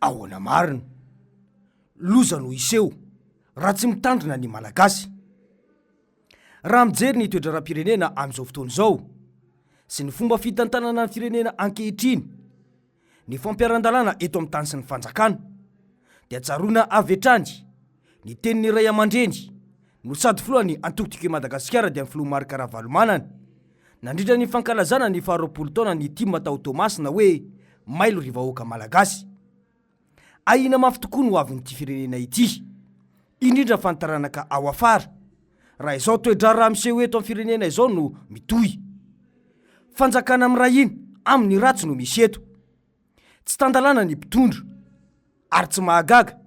Ahoana marina? Loza no hiseho raha tsy mitandrina ny Malagasy. Raha mijery ny toe-draharaham-pirenena amin'izao fotoana izao sy ny fomba fitantanana ny firenena ankehitriny, ny fampiharan-dalàna eto amin'ny tany sy ny fanjakana dia tsaroana avy hatrany ny tenin'ny ray aman-dreny no sady filohan'ny antoko Tiako i Madagasikara dia ny filoha Marc Ravalomanana nandritra ny fankalazana ny faharoapolo taonan'ny tim tao Toamasina hoe mailo ry vahoaka malagasy. Ahiana mafy tokoa ny hoavin'ity firenena ity, indrindra fa ny taranaka ao afara, raha izao toe-draharaha miseho eto amin'ny firenena izao no mitohy. Fanjakana miray hina amin'ny ratsy no misy eto. Tsy tan-dalàna ny mpitondra. Ary tsy mahagaga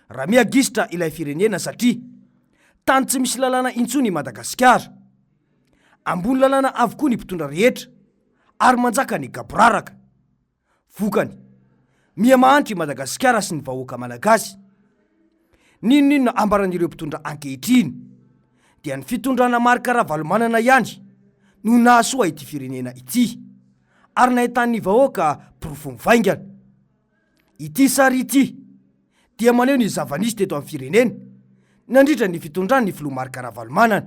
raha miha gisitra ilay firenena satria tany tsy misy lalàna intsony i Madagasikara. Ambony lalàna avokoa ny mpitondra rehetra ary manjaka ny gaboraraka. Vokany, miha mahantra i Madagasikara sy ny vahoaka malagasy. N'inon'inona ambaran'ireo mpitondra ankehitriny dia ny fitondrana Marc Ravalomanana ihany no nahasoa ity firenena ity ary nahitan'ny vahoaka porofo mivaingana. Ity sary ity dia maneho ny zava-nisy teto amin'ny firenena nandritra ny fitondran'ny filoha Marc Ravalomanana.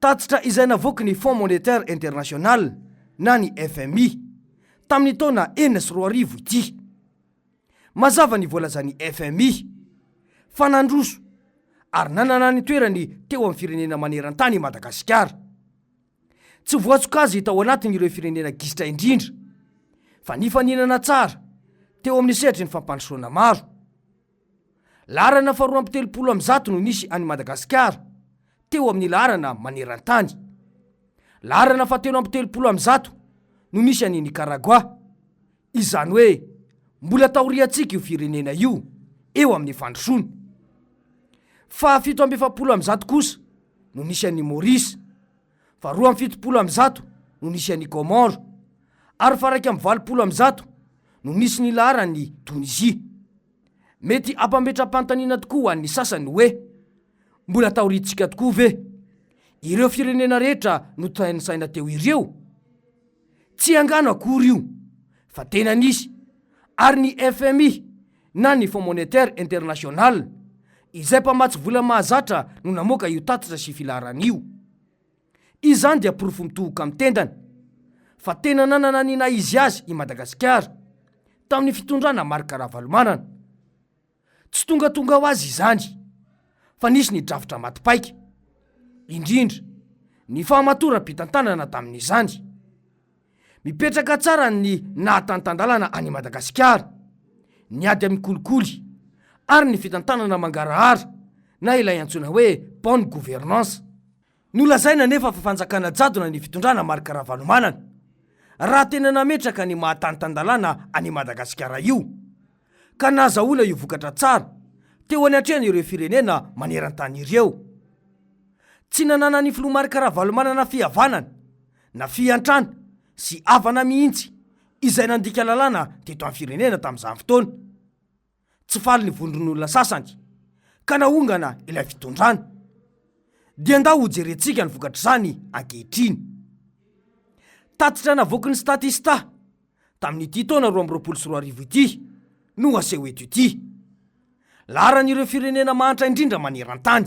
Tatitra izay navoaky ny Fonds Monétaire International na ny fmi tamin'ny taona enina sy roa arivo ity. Mazava ny voalazan'ny fmi fa nandroso ary nanana ny toerany teo amin'ny firenena maneran-tany i Madagasikara. Tsy voasokajy tao anatin'ireo firenena gisitra indrindra fa nifaninana tsara teo amin'ny sehatry ny fampandrosoana maro. Laharana faharoa amby telopolo amby zato no nisy an'i Madagasikara, teo amin'ny laharana maneran-tany. Laharana fahatelo amby telopolo amby zato no nisy an'i Nikaragoà. Izany hoe mbola taoriantsika io firenena io eo amin'ny fandrosoana. Fahafito amby efapolo amby zato kosa no nisy an'i Maurice, fa roa amby fitopolo amby zato no nisy an'i Comores, ary fa raika amby valopolo amby zato no nisy ny laharan'i Tonisie. Mety hampametram-panontaniana tokoa ho an'ny sasany hoe, mbola taoriantsika tokoa ve ireo firenena rehetra notantsaina teo ireo? Tsy angano akory io fa tena nisy, ary ny fmi na ny Fonds Monétaire International, izay mpamatsy vola mahazatra no namoaka io tatitra sy filaharana io. Izany dia porofo mitohoka amin'ny tendany, fa tena nanana ny naha izy azy i Madagasikara, tamin'ny fitondrana Marc Ravalomanana. Tsy tongatonga ho azy izany, fa nisy ny drafitra maty paika. Indrindra, ny fahamatoram-pitantanana tamin'izany. Mipetraka tsara ny naha-tantan-dalana an' i Madagasikara, ny ady amin'ny kolikoly ary ny fitantanana mangarahara na ilay antsoina hoe bonne gouvernance. Nolazaina anefa fa fanjakana jadona ny fitondrana Marc Ravalomanana raha tena nametraka ny maha-tantan-dalàna an' i Madagasikara io, ka nahazahoana io vokatra tsara teo any an-trehan' ireo firenena maneran-tany ireo. Tsy nananan'ny filoha Marc Ravalomanana fihavanana Na fiantrana sy havana mihitsy izay nandika lalàna teto amin'ny firenena tamin'izany fotoana. Tsy faly ny vondron'olona sasany ka nahongana ilay fitondrana. Dia ndao hojerentsika ny vokatr'izany ankehitriny. Tatitra navoakin'ny Statista tamin'ity taona roa amby roapolo sy roa arivo ity no aseho eto ity. Laharan'ireo firenena mahantra indrindra maneran-tany.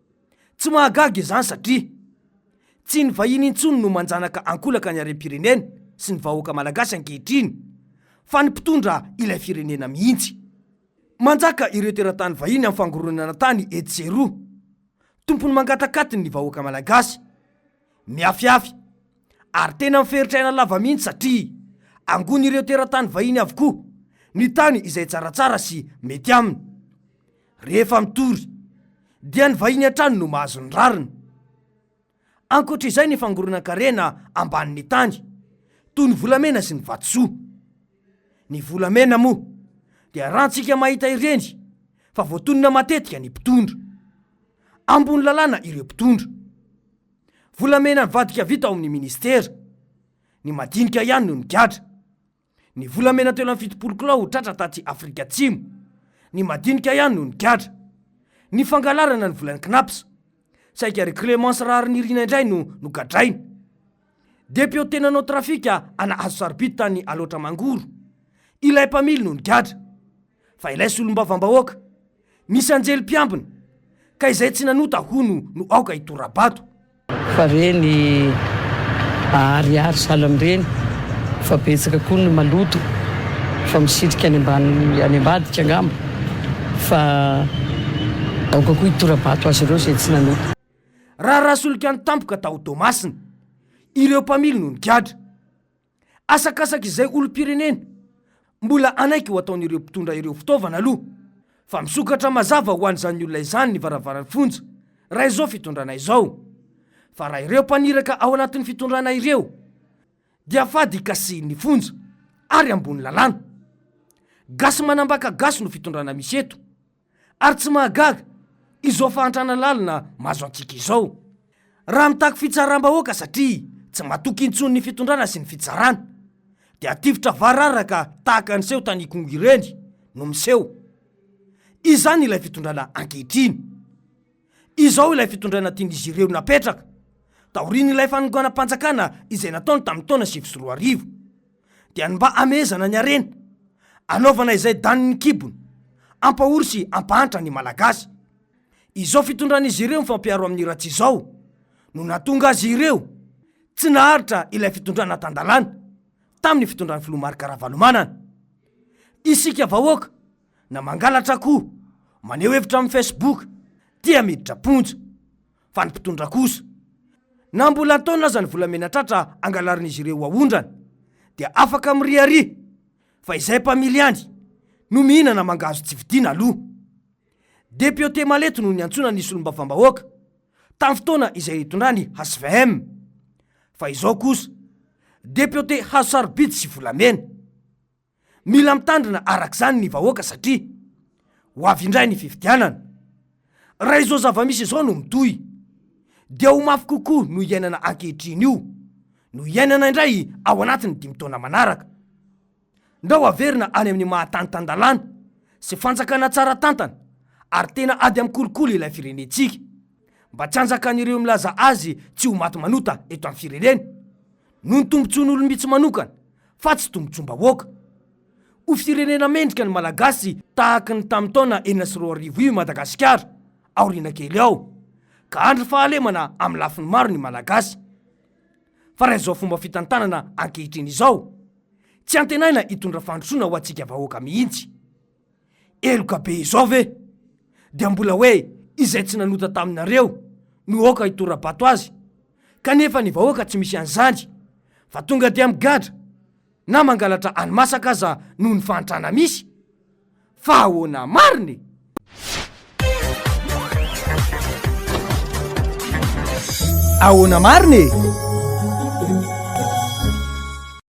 Tsy mahagaga izany satria tsy ny vahiny intsony no manjanaka ankolaka ny harem-pirenena sy ny vahoaka malagasy ankehitriny fa ny mpitondra ilay firenena mihitsy. Manjaka ireo teratany vahiny amin'ny fangoronana tany etsy sy eroa. Tompony mangatakatiny ny vahoaka malagasy. Mihafihafy. Ary tena miferitra aina lava mihitsy satria angon'ireo teratany vahiny avokoa ny tany izay tsaratsara sy mety aminy. Rehefa mitory, dia ny vahiny hatrany no mahazo ny rariny. Ankoatra izay ny fangoronan-karena ambanin'ny tany, toy ny volamena sy ny vatosoa. Ny volamena moa, dia rantsika mahita ireny fa voatonona matetika ny mpitondra. Ambony lalàna ireo mpitondra. Volamena nivadika vita ao amin'ny ministera. Ny madinika ihany no nigadra. Ny volamena telo amby fitopolo kilao ho tratra taty Afrika Atsimo. Ny madinika ihany no nigadra. Ny fangalarana ny volan'ny Cnaps. Saika ry Clemence Raharinirina indray no nogadraina. Depiote nanao trafika ana hazo sarobidy tany Alaotra Mangoro. Ilay mpamily no nigadra. Fa ilay solombavambahoaka misy anjely mpiambina ka izay tsy nanota hono no aoka hitora-bato. Fa re ny aharihary sahala amin'ireny fa betsaka koa ny maloto fa misitrika any ambany any ambadika angamba fa aoka koa hitora-bato azy ireo izay tsy nanota. Raharaha solika nitampoka tao Toamasina, ireo mpamily no nigadra. Asakasak'izay olom-pirenena, mbola hanaiky ho ataon'ireo mpitondra ireo fitaovana aloha, fa misokatra mazava ho an'izany olona izany ny varavaran'ny fonja, raha izao fitondrana izao. Fa raha ireo mpaniraka ao anatin'ny fitondrana ireo dia fady hikasihin'ny fonja ary ambony lalàna. Gasy manambaka gasy no fitondrana misy eto. Ary tsy mahagaga izao fahantrana lalina mahazo antsika izao raha mitaky fitsaram-bahoaka satria tsy matoky intsony ny fitondrana sy ny fitsarana dia tifitra vararaka tahaka ny seho tany Ikongo ireny no miseho. Izany ilay fitondrana ankehitriny. Izao ilay fitondrana tian'izy ireo napetraka taorian'ilay fanonganam-panjakana izay nataony tamin'ny taona sivy sy roa arivo. dia ny mba hamehezana ny harena, hanaovana izay danin'ny kibony, hampahory sy hampahantra ny Malagasy. Izao fitondran'izy ireo mifampiaro amin'ny ratsy izao no nahatonga azy ireo tsy naharitra ilay fitondrana tan-dalàna tamin'ny fitondran'ny Filoha Marc Ravalomanana. Isika vahoaka na mangalatra akoho, maneho hevitra amin'ny Facebook dia miditra am-ponja. fa ny mpitondra kosa na mbola an-taonina aza ny volamena tratra angalarin'izy ireo ho aondrana dia afaka miriaria fa izay mpamily ihany no mihinana mangahazo tsy vidiana aloha. Depiote Maleto no niantsoana ny solombavambahoaka tamin'ny fotoana izay hitondrany hvm fa izao kosa depiote hazo sarobidy sy volamena. Mila mitandrina araka izany ny vahoaka satria ho avy indray ny fifidianana. Raha izao zava-misy izao no mitohy dia ho mafy kokoa no iainana ankehitriny io no hiainana indray ao anatin'ny dimy taona manaraka. Ndao haverina any amin'ny maha tany tan-dalàna sy fanjakana tsara tantana ary tena ady amin'ny kolikoly ilay firenentsika mba tsy hanjakan'ireo milaza azy tsy ho maty manota eto amin'ny firenena. Noho ny tombotsoan'olom-bitsy manokana, fa tsy tombotsoam-bahoaka. Ho firenena mendrika ny Malagasy tahaka ny tamin'ny taona enina sy roa arivo io i Madagasikara, aoriana kely ao, ka handry fahalemana amin'ny lafiny maro ny Malagasy. Fa raha izao fomba fitantanana ankehitriny izao, tsy antenaina hitondra fandrosoana ho antsika vahoaka mihitsy. Heloka be izao ve? Dia mbola hoe izay tsy nanota taminareo no aoka hitora-bato azy? Kanefa ny vahoaka tsy misy an'izany, fa tonga dia migadra, na mangalatra hani-masaka aza noho ny fahantrana misy? Fa ahoana marina e? Ahoana marina e?